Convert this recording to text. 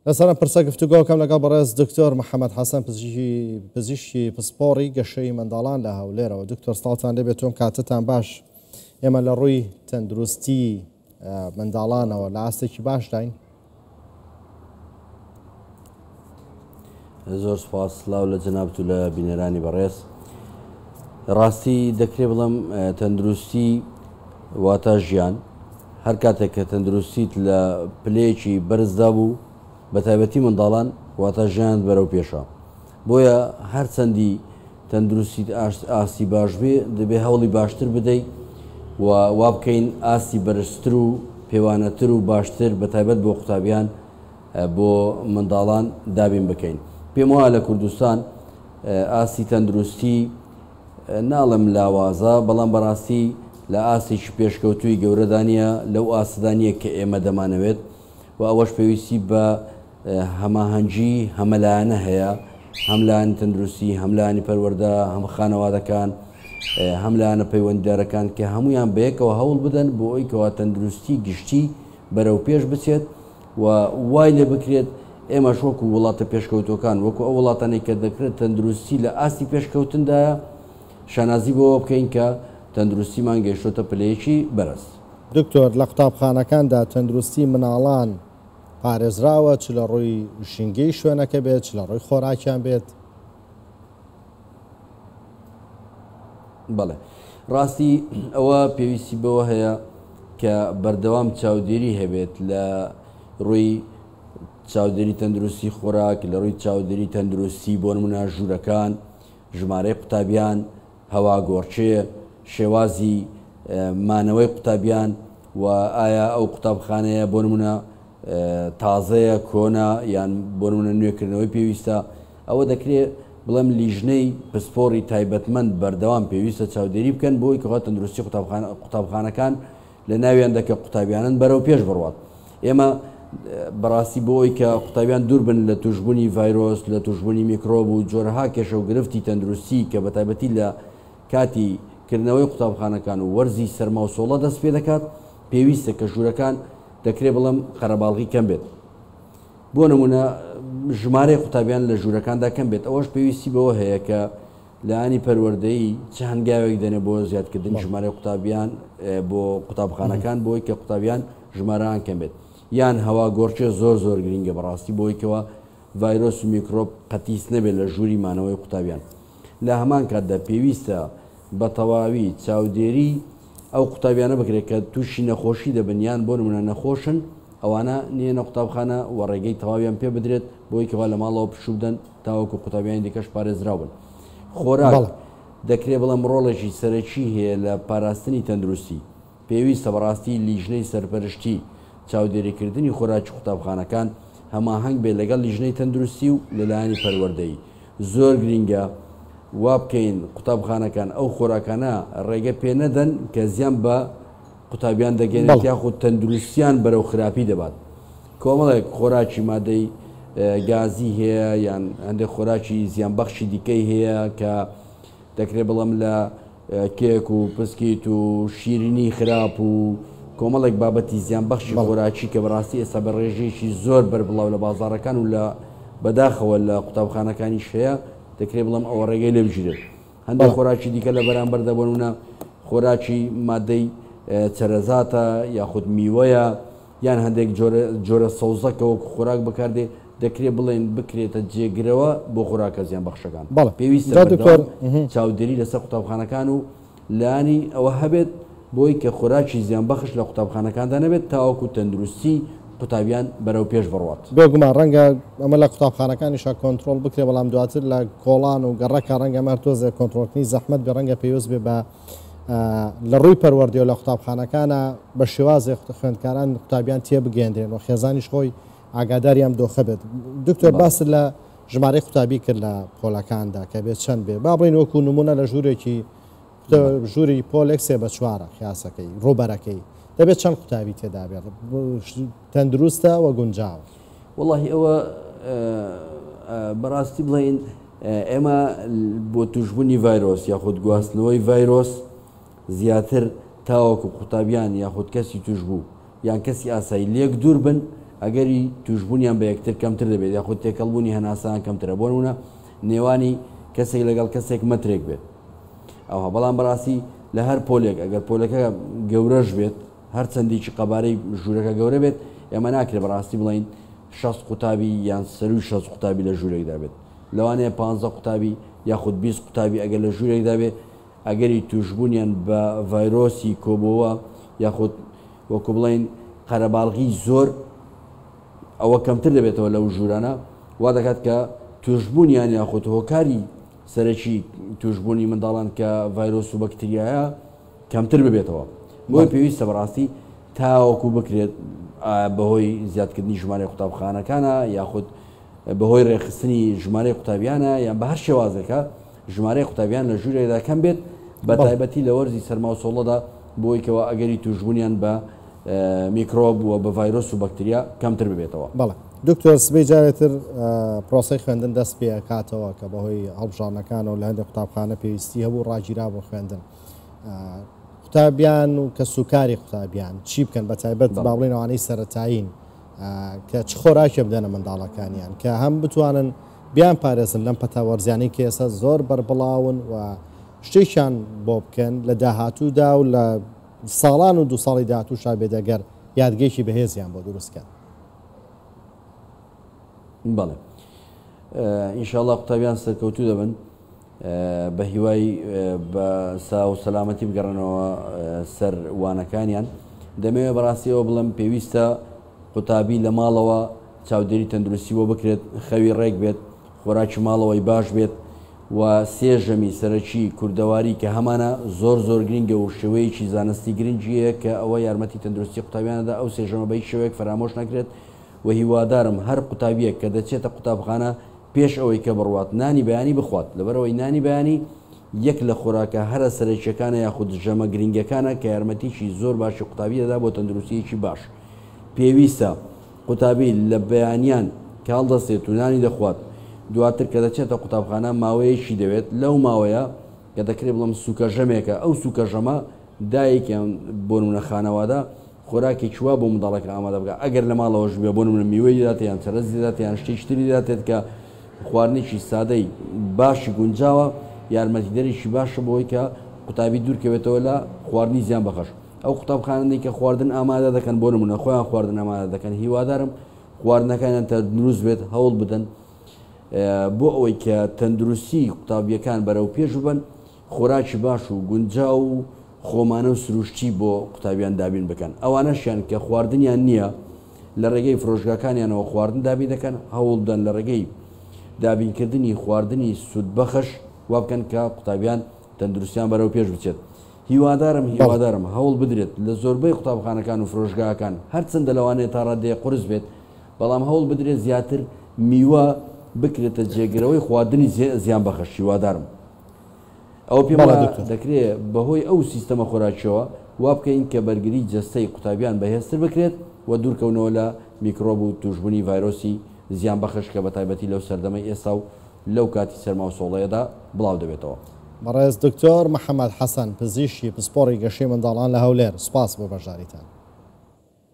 لەسەرم پرسە گفتوگۆکەم لەگەڵ بەڕێز دکتۆر محەممەد حەسەن پزیشکی پسپۆڕی گەشەی منداڵان لە هەولێرەوە دکتۆر ساڵتان لێ بێتۆم کاتتان باش ئێمە لە ڕووی تەندروستی منداڵانەوە لە ئاستێکی باشداین زۆر سپاس سلااو لە جەنابت و لە بینەرانی بەڕێز ڕاستی دەکرێ بڵم تەندروستی واتا ژیان هەر کاتێک کە تەندروستیت لە پلەیەکی بەرزدا بوو بە تایبەتی منداڵان واتا ژیان بەرەو پێشە بۆیە هەر چەندی تەندروستیت ئاستی باش بێ دەبێ هەوڵی باشتر بدەیت و وابکەین ئاستی بەرزتر و پێوانەتر و باشتر بە تایبەت بۆ قوتابیان بۆ منداڵان دابین بکەین پێم وایە لە کوردستان ئاستی تەندروستی ناڵم لاوازە بەڵام بەڕاستی لە ئاستێکی پێشکەوتوی گەورەدانە لەو ئاستدانە کە ئێمە دەمانەوێت و ئەوەش پێویستی بە هەماهەنگی هەمەلایەنە هەیە هەملایانی تەندروستی هەملایانی پەروەەردە هەم خانەوادەکان هەملایەنە پەیوەنددارەکان کە هەمویان بەیەکەوە هەوڵ بدەن بۆ ئەوی کەوا تەندروستی گشتی بەرەو پێش بچێت و وای لێ بکرێت ئێمەش وەکو وڵاتە پێشکەوتووەکان، وەکو ئەو وڵاتانەی کە دەکرێت تەندروستی لە ئاستی پێشکەوتندایە، شانازی بەوە بکەین کە تەندروستیمان گەیشتۆتە پلەیەکی بەرز. دکتۆر، لە قوتابخانەکاندا تەندروستی منداڵان پارێزراوە، چ لە ڕووی ژینگەی شوێنەکە بێت، چ لە ڕووی خۆراکیان بێت؟ بەڵێ ڕاستی ئەوە پێویستی بەوە هەیە کە بەردەوام چاودێری هەبێت لە ڕووی چاودێری تەندروستی خۆراک لە ڕووی چاودێری تەندروستی بۆ نمونە ژوورەکان ژمارەی قوتابیان هەوا گۆڕچێ شێوازی مانەوەی قوتابیان و ئایا ئەو قوتابخانەیە بۆ نمونە تازەیە، کۆنە، یان بۆ نموونە نوێکردنەوەی پێویستە، ئەوە دەکرێت بڵێم لیژنەی پسپۆڕی تایبەتمەند بەردەوام پێویستە چاودێری بکەن بۆ ئەوەی کە خوا تەندروستی قوتابخانەکان لە ناویان دەکە قوتابیانن بەرەو پێش بڕوات ئێمە بەڕاستی بۆ ئەوەی کە قوتابیان دوور بن لە توشببوونی ڤایرۆس لە توشببوونی میکرۆب و جۆرەها کێشە و گرفتی تەندروستی کە بە تایبەتی لە کاتی کردنەوەی قوتابخانەکان و وەرزی سەرماوسۆڵە دەست پێ دەکات پێویستە کە ژوورەکان دەکرێت بڵێم قەرەباڵغی کەم بێت، بۆ نموونە ژمارەی قوتابیان لە ژوورەکاندا کەم بێت، ئەوەش پێویستی بەوە هەیە کە لایەنی پەروەردەیی چ هەنگاوێک دەنێت بۆ زیادکردنی ژمارەی قوتابیان بۆ قوتابخانەکان بۆی کە قوتابیان ژمارەان کەم بێت یان هەوا گۆڕکێ زۆر زۆر گرنگە بەڕاستی بۆیکەوە ڤایرۆس و میکرۆپ قەتیس نەبێت لە ژووری مانەوەی قوتابیان. لە هەمان کاتدا پێویستە بە تەواوی چاودێریی ئەو قوتابیانە بکرێت کە تووشی نەخۆشی دەبن یان بۆ نموونە نەخۆشن، ئەوانە نێنە قوتابخانە و ڕێگەی تەواویان پێ بدرێت بۆی کەوا لە ماڵەوە پشوو بدەن تاوەکو قوتابیانی دیکەش پارێزراو بن. خۆراک، بەڵێ. دەکرێت بڵێم ڕۆڵێکی سەرەکی هەیە لە پاراستنی تەندروستی. پێویستە بەڕاستی لیژنەی سەرپەرشتی چاودێریکردنی خۆراکی قوتابخانەکان هەماهەنگ بێت لەگەڵ لیژنەی تەندروستی و لەلایەنی پەروەردەیی زۆر گرینگە وابکەین قوتابخانەکان ئەو خۆراکانە ڕێگە پێ نەدەن کە زیان بە قوتابیان دەگەێنێت یاخود تەندروستیان بەرەو خراپی دەبات کۆمەڵێک خۆراکی مادەی گازی هەیە یان هەندێک خۆراکی زیان بەخشی دیکەی هەیە کە دەکرێت بڵم لە کێک و پسکیت و شیرینی خراپ و کۆمەڵێک بابەتی زیانبەخشی خۆراکی کە بەڕاستی ئێستا بە ڕێژەیەکی زۆر بەربڵاو لە بازاڕەکان و لە بەداخەوە لە قوتابخانەکانیش هەیە دەکرێ بڵێم ئەوە ڕێگەی لێ بگیرێت هەندێک خۆراکی دیکە لە بەرامبەردا بۆ نمونە خۆراکی مادەی چەرەزاتە یاخود میوەیە یان هەندێک جۆرە جۆرە سەوزە کە وەکو خۆراک بەکاردێ دەکرێ بڵێین بکرێتە جێگرەوە بۆ خۆراکە زیانبەخشەکان. بەڵێ پێویستە جا دکتۆر. بەردەوام چاودێری لەسەر قوتابخانەکان و لانی ئەوە هەبێت بۆی کە خۆراکی زیانبەخش لە قوتابخانەکاندا نەبێت تاوەکو تەندروستی قوتابیان بەرەوپێش بڕوات. بێگومان رەنگە ئەمە لە قوتابخانەکانیشا کۆنترۆڵ بکرێ بەڵام دواتر لە کۆڵان و گەڕەکە رەنگە ئەمە هەر تۆزێ کۆنترۆڵکردنی زەحمەت بێ رەنگە پێوست بێ بە لە ڕووی پەروەردەوە لە قوتابخانەکانە بە شێوازێ خوێندکاران قوتابیان تێ بگەێنرێن و خێزانیش خۆی ئاگاداریان دۆخە بێت دکتۆر باس لە ژمارەی قوتابی کرد لە پۆلەکاندا کە بێت چەند بێ با بڵین وەکو نمونە لە ژوورێکی ژووری پۆلێک سێ بە چوارە خیاسەکەی ڕوبەرەکەی دەبێت چەند قوتابی تێدابێت تەندروستە وە گونجاوە واللهی ئەوە بەڕاستی بڵین ئێمە بۆ توشبوونی ڤایرۆس یاخود گواستنەوەی ڤایرۆس زیاتر تاوەکو قوتابیان یاخود کەسی توشبوو یان کەسی ئاسایی لێک دوور بن ئەگەری توشبوونیان بە یەکتر کەمتر دەبێت یاخود تێکەڵبوونی هەناسەیان کەمترە بۆ نمونە نێوانی کەسێک لەگەڵ کەسێک مەترێک بێت ئەوها بەڵام بەڕاستی لە هەر پۆلێک ئەگەر پۆلەکە گەورەش بێت هەر چەندیکی قەبارەی ژوورەکە گەورە بێت، ئێمە ناکرێت بە ڕاستی بڵێین شەست قوتابی یان سەرووی شەست قوتابی لە ژوورێکدا بێت. لەوانەیە پانزە قوتابی یاخود بیست قوتابی ئەگەر لە ژوورێکدا بێت، ئەگەری تووشبوونیان بە ڤایرۆسی کۆبۆوە یاخود وەکوو بڵێین قەرەباڵغی زۆر ئەوە کەمتر دەبێتەوە لەو ژوورانە، وا دەکات کە تووشبوونیان یاخود هۆکاری سەرەکی تووشبوونی منداڵان کە ڤایرۆس و بەکتریایە، کەمتر ببێتەوە بۆیە پێویستە بەڕاستی تاوەکو بکرێت بەهۆی زیادکردنی ژمارەی قوتابخانەکانە یاخود بەهۆی ڕێخستنی ژمارەی قوتابیانە یان بە هەر شێوازێکە ژمارەی قوتابیان لە ژوورێکدا کەم بێت بە تایبەتی لە وەرزی سەرماوسۆڵەدا بۆیکەوە ئەگەری توشببوونیان بە میکرۆب و بە ڤایرۆس و بەکتریا کەمتر ببێتەوە بەڵێ دکتۆر سبەی جارێتر پرۆسی خوێندن دەست پێکاتەوە کە بەهۆی هەڵبژانەکانەوە لە هەندێک قوتابخانە پێویستی هەبوو ڕاگیرا بۆ خوێندن قوتابیان و کەس و کاری قوتابیان چی بکەن بە تایبەت با بڵێن ئەوانەی سەرەتایین کە چ خۆراکێ بدەنە منداڵەکانیان کە هەم بتوانن بیان پارێزن لەم پەتاوەرزیانی کە ئێستا زۆر بەربڵاون و شتێکیان بۆ بکەن لە داهاتوودا و لە ساڵان و دو ساڵی داهاتوو شابێدەگەر یادگەیەکی بەهێزیان بۆ دروستکەن بەڵێ ئینشاءڵە قوتابیان سەرکەوتو دەبن بەهیوای بە ساو و سەلامەتی بگەڕێنەوە سەر وانەکانیان. دەمەوێت بەڕاستی ئەوە بڵێم پێویستە قوتابی لە ماڵەوە چاودێری تەندروستی بۆ بکرێت، خەوی ڕێک بێت، خۆراکی ماڵەوەی باش بێت و سێ ژەمی سەرەکی کوردەواری کە هەمانە زۆر زۆر گرینگە و شێوەیەکی زانستی گرنگی هەیە کە ئەوە یارمەتی تەندروستی قوتابیانە دا ئەو سێ ژەمە بە هیچ شێوەیەک فەرامۆش نەکرێت و هیوادارم هەر قوتابیەک کە دەچێتە قوتابخانە پێش ئەوەی کە بڕوات نانی بەیانی بخوات، لەبەرئەوەی نانی بەیانی یەک لە خۆراکە هەرە سەرەکییەکانە یاخود ژەمە گرنگەکانە کە یارمەتیی زۆر باشی قوتابی دەدا بۆ تەندروستییەکی باش. پێویستە قوتابی لە بەیانیان کە هەڵدەستێت و نانی دەخوات، دواتر کە دەچێتە قوتابخانە ماوەیەکی دەوێت، لەو ماوەیە کە دەکرێت بڵێم سووکەژەمێکە، ئەو سووکەژەمە دایک یان بۆنموونە خانەوادە خۆراکێکی وا بۆ منداڵەکە ئامادە بکات ئەگەر لە ماڵەوەش بێت، بۆ نموونە میوەی لێداتێت یان چەرەزی لێداتێت یان شتێکی تری لێداتێت کە خواردنێکی سادەی باشی گونجاوە یارمەتیدەرێکی باشە بۆ ئەوەی کە قوتابی دوورکەوێتەوە لە خواردنی زیان بەخش ئەو قوتابخانەی کە خواردن ئامادە دەکەن بۆ نمونە خۆیان خواردن ئامادە دەکەن هیوادارم خواردنەکانیان تە دروست بێت هەوڵ بدەن بۆ ئەوەی کە تەندروستی قوتابیەکان بەرەو پێش ببن خۆراکی باش و گونجاو و خۆمانە و سروشتی بۆ قوتابیان دابین بکەن، ئەوانەشیان کە خواردنیان نییە لە ڕێگەی فرۆشگاکانیانەوە خواردن دابین دەکەن، هەوڵبدەن لە ڕێگەی دابینکردنی خواردنی سوودبەخش وابکەن کە قوتابیان تەندروستیان بەرەوپێش بچێت. هیوادارم هیوادارم هەوڵ بدرێت لە زۆربەی قوتابخانەکان و فرۆشگاکان هەرچەندە لەوانەیە تا ڕادەیەک قورس بێت بەڵام هەوڵ بدرێت زیاتر میوە بکرێتە جێگرەوەی خواردنی زیانبەخش هیوادارم ئەوە پێم وایە دەکرێت بەهۆی ئەو سیستەمە خۆراکییەوە وا بکەین کە بەرگریی جەستەی قوتابیان بەهێزتر بکرێت و دوورکەونەوە لە میکرۆب و تووشبوونی ڤایرۆسی زیانبەخش کە بەتایبەتی لەو سەردەمەی ئێستا و لەو کاتی سەرما و سۆڵەیەدا بڵاو دەبێتەوە. بەڕێز دکتۆر محەمەد حەسەن، پزیشکی پسپۆڕی گەشەی منداڵان لە هەولێر، سوپاس بۆ بەشداریتان.